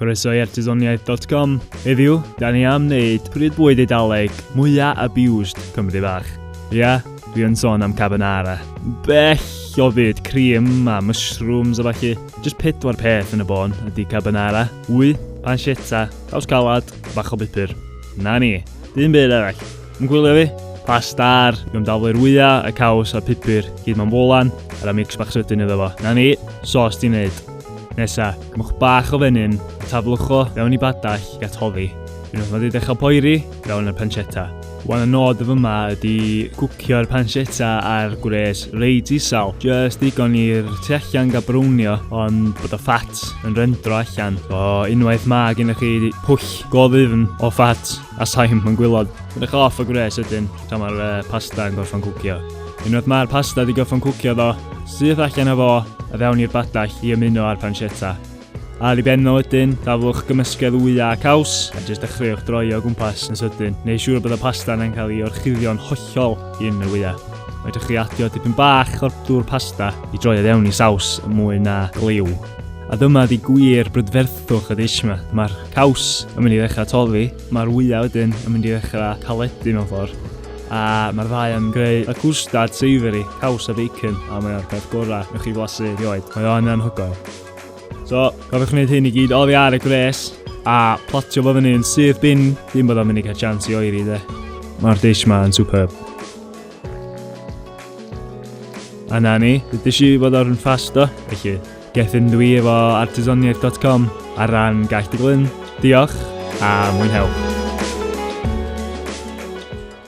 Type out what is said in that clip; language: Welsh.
Croeso i artesoniaeth dot com. Heddiw, da ni am wneud pryd bwyd eidaleg mwyaf abused Cymru bach. Ia, dwi yn sôn am carbonara. Bell o fyd cream a mushrooms a falle. Just pedwar peth yn y bôn ydy carbonara, wy, pancetta, caws calad, bach o bupur. Na ni, dyn byd arall. Yn gwylio fi? Pastar, yw'n daflu'r wyau, y caws a'r pupur, gyd mewn bolan, ar y mix bach sydyn iddo fo. Na ni, sos di wneud. Nesa, cymwch bach o fenyn, a taflwch o fewn i badell i atoddi. Unwaith mae wedi dechrau poeri, fewn y pancetta. Wan y nod of yma ydy cwcio'r pancetta ar gwres reit isel. Just digon i'r tu allan gael brownio, ond bod y ffat yn rendro allan. O, unwaith mae gennych chi pwll go ddifn o ffat, A saim yn gwylod. Yn eich off o gwres wedyn, tra mae'r uh, pasta yn gorffan cwcio. Unwaith mae'r pasta wedi gorffan cwcio ddo, syth allan o fo a fewn i'r badell i ymuno â'r pancetta. A i benno wedyn, daflwch gymysgedd wyau a caws, a jyst dechreuwch droi o gwmpas yn sydyn, neu siŵr bod y pasta yna'n cael ei orchuddio'n hollol yn y wyau. Mae ydych chi adio tipyn bach o'r dŵr pasta i droi fewn i saws mwy na gliw. A dyma di gwir brydferthwch y dish yma. Mae'r Caws yn mynd i ddechrau toddi, mae'r wyau wedyn yn mynd i ddechrau caledu mewn ffordd, a mae'r ddau yn creu y cwstard savoury, caws a bacon, a mae o'r peth gorau newch chi flasu erioed. Mae o'n anhygoel. So, cofiwch wneud hyn i gyd oddi ar y gwres, a platio fo fyny yn syth bin, dim bod o'n mynd i cael chance i oeri de. Mae'r dish ma yn superb. A na ni, dydych chi fod o'r yn ffasto, felly Gethin dwi efo artesoniaeth.com ar ran Gaeth Dy Glyn. Diolch a mwynhewch!